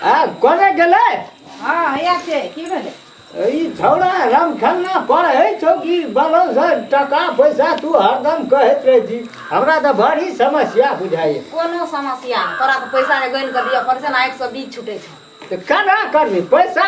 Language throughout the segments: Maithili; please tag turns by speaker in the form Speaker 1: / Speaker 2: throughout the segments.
Speaker 1: आ कोने गेलै हँ हैया छै की भेलै ई छौड़ा रमखन्ना पर है चौकी बनो से टका पैसा तू हरदम कहैत रहे छी हमरा तऽ बड़ी समस्या बुझाइए कोनो समस्या नहि तोरा तऽ पैसा जे गनि कऽ दिअ पड़ै छै ने आँखिसँ बीज छूटै छै तऽ केना करबी पैसा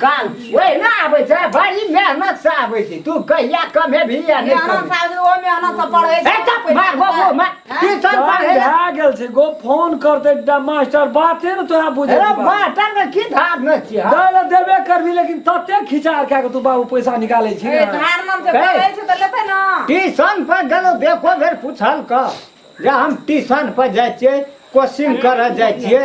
Speaker 1: काल ओहि ना आबै छै बड़ी मेहनत से आबै छै तू कहिया कमे भी या नहि मेहनत कमे। साल ओ मेहनत से पढ़ै ए, चुप, मार, गो, गो, मार। टीचर चल, पढ़ै लए- भए गेल छै गो फोन करते ड- मास्टर बाते ने तोरा बुझे अरे मास्टर के की धार न छियै हाँ? दै लए देबे करबी लेकिन तते खिचा कए के तू बाबू पैसा निकालै छी ने। धार मन से पढ़ै छै तऽ लेतै ने ट्यूशन पर गेलो देखो बेर पूछल क जे हम ट्यूशन पर जाइ छियै कोचिंग करऽ जाइ छियै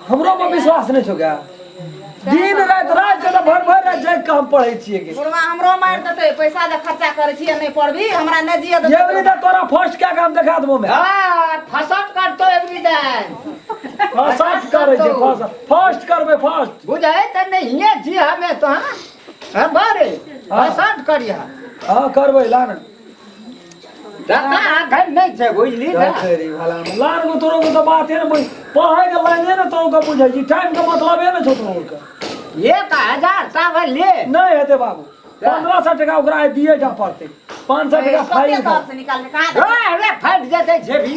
Speaker 1: हमरो पर विश्वास नहीं छो क्या दिन रात रात के तो भर भर रात जाग के हम पढ़े छिए के बुढ़वा हमरो मार देते पैसा जे खर्चा करे छी नहीं पढ़बी हमरा नहीं जिए ये वाली देते तो तोरा फर्स्ट क्या काम दिखा देबो मैं हाँ, फसट करतो एक भी दे फर्स्ट करे छे फर्स्ट फर्स्ट करबे फर्स्ट बुझे त नहीं हिये जी हमें तो हाँ हाँ, बारे हाँ। फसट करिया हां करबे लान नहि छै बुझली ने लार गो तोरो के बाते ने बुझ पढ़े के लाइने ने तोरो के बुझै छी टाइम के मतलबे ने छौ तोरो के ये का हजार सावन ले नहीं हेते बाबू पंद्रह सौ टका ओकरा दिए जा पड़ते पाँच सौ टका फाइन निकाल अरे फट जेते जेबी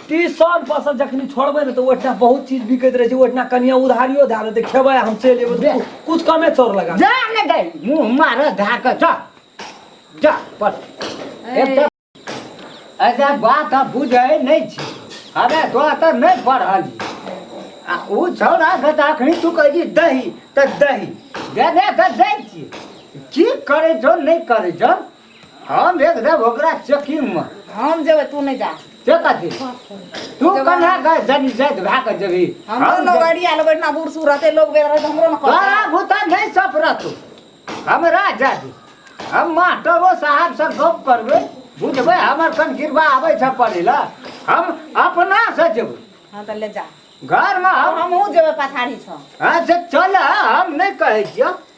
Speaker 1: टी शर्ट पर से जखनी छोड़बे ने तो ओठना बहुत चीज बिकैत रहे छै ओठना कनिया उधारियो धा देते खेबे हम चल जेबे दे। कुछ कमे चोर लगा जा ने गई मुंह मार धा के जा जा पर एक तो ऐसा बात अब बुझे नहीं छी अरे तो तो नहीं पढ़ल आ उ छौड़ा के तो अखनी तू कह जी दही तो दही दे दे के दे छी की करे जो नहीं करे जो हम भेज देब ओकरा चेकिंगमे हम जेबै तू नहि जा से कथी तू कन्हा गए जन जैत भए कऽ जेबही हमरो हम लोग जेबै। अड़िया लोग इतना बूढ़ सूढ़ रहते लोग बेर रहते हमरो ने तोरा कहता भूता नहि सफरत हमरा जादी हम मास्टरो साहब से गप करबै बुझबै हमर कन गिरबा आबै छै पढ़ै लए हम अपना से जेबै हाँ तो ले जा घरमे हम हम हमहूँ जेबै पछाड़ी छौ हाँ से चल हम नहि कहै छियौ